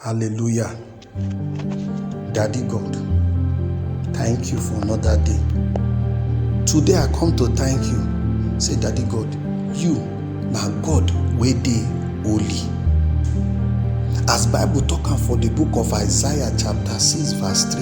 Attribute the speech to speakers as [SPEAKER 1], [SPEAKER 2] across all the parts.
[SPEAKER 1] Hallelujah. Daddy God, thank you for another day. Today I come to thank you. Say, Daddy God, you na God wey dey holy. As Bible talk am for the book of Isaiah chapter 6 verse 3,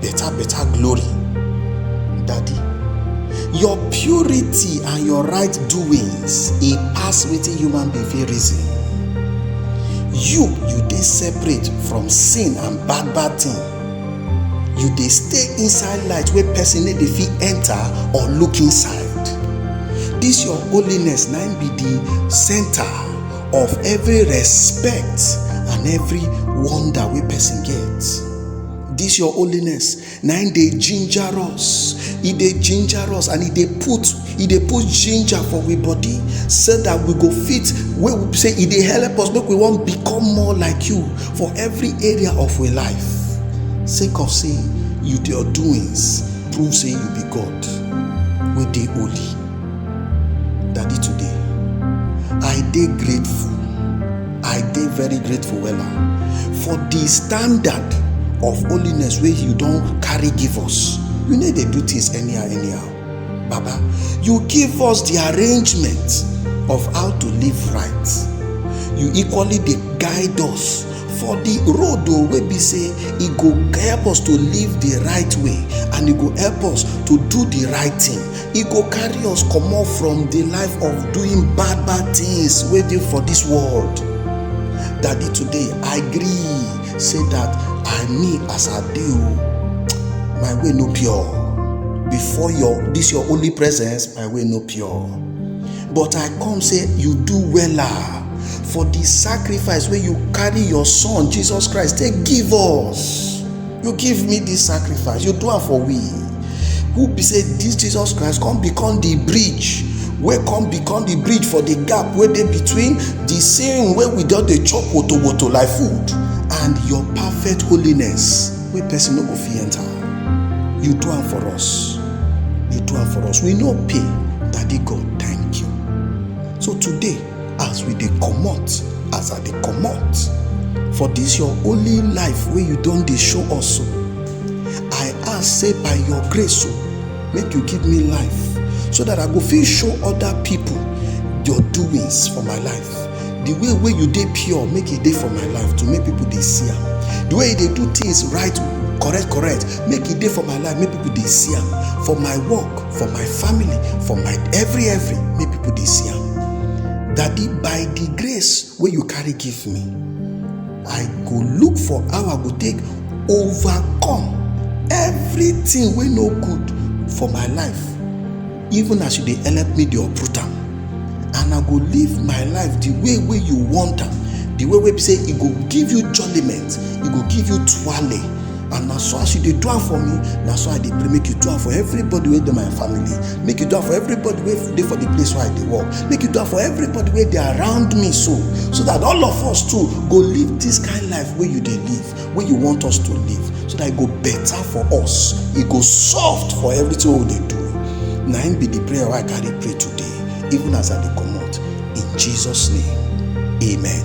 [SPEAKER 1] Better, better glory. Daddy, your purity and your right doings e pass wetin human being fit reason. You, you dey separate from sin and bad bad thing. You dey stay inside light wey person no dey fit enter or look inside. This your holiness na im be the center of every respect and every wonder wey person get. This your holiness na im dey ginger us e dey ginger us and e dey put e dey put ginger for we body so that we go fit wey we say e dey help us make we wan become more like you for every area of we life sake of say you your doings prove say you be god wey dey holy daddy today i dey grateful I dey very grateful wella for the standard of holiness wey you don carry give us. You no dey do things anyhow anyhow. Baba, you give us the arrangement of how to live right. You equally dey guide us for the road o wey be say e go help us to live the right way and e go help us to do the right thing. e go carry us comot from the life of doing bad bad things wey dey for this world daddy today i gree say that i me as i dey o my way no pure before your this your only presence my way no pure but i come say you do wella for the sacrifice wey you carry your son jesus christ take give us you give me this sacrifice you do am for we who be say this jesus christ come become the bridge wey come become the bridge for the gap wey dey between the sin wey we don dey chop woto woto like food and your perfect holiness wey person no go fit enter you do am for us you do am for us we no pay daddy god thank you so today as we dey comot as i dey comot for dis your only life wey you don dey show us so i ask say by your grace so make you give me life so that i go fit show other people your doings for my life the way wey you dey pure make e dey for my life to make people dey see am the way you dey do things right correct correct make e dey for my life make people dey see am for my work for my family for my every every make people dey see am daddy by the grace wey you carry give me i go look for how i go take overcome everything wey no good for my life even as you dey help me dey uproot am and i go live my life the way wey you want am the way wey be say e go give you jollyment e go give you twale and na so as you dey do am for me na so i dey pray make you do am for everybody wey dey my family make you do am for everybody wey dey for the place where i dey work make you do am for everybody wey dey around me so so that all of us too go live this kind life wey you dey live wey you want us to live so that e go better for us e go soft for everything wey we dey do na im be the prayer wey i carry pray today even as i dey comot in jesus name amen.